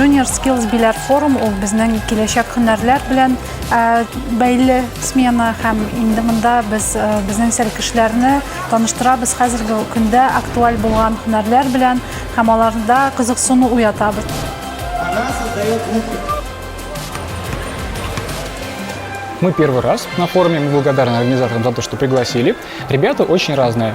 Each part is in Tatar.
Junior Skills Bilar Forum ул безнең киләчәк һөнәрләр белән бәйле смена һәм инде монда без безнең сәркешләрне таныштырабыз хәзерге көндә актуаль булган һөнәрләр белән һәм аларда кызыксыну уятабыз. Мы первый раз на форуме, мы благодарны организаторам за то, что пригласили. Ребята очень разные.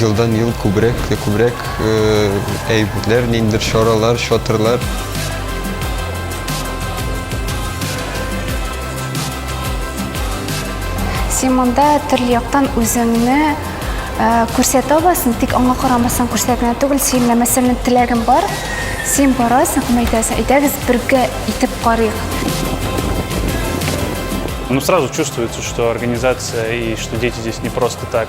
Елдан-ел күбрәк тә күбрәк әйберләр, ниндер чаралар, чатырлар син монда төрле яктан үзеңне э, күрсәтә аласың тик аңа карамастан күрсәтә түгел син мәсәлән теләгең бар син барасың һәм әйтәсең әйдәгез бергә итеп карыйк Ну, сразу чувствуется, что организация и что дети здесь не просто так.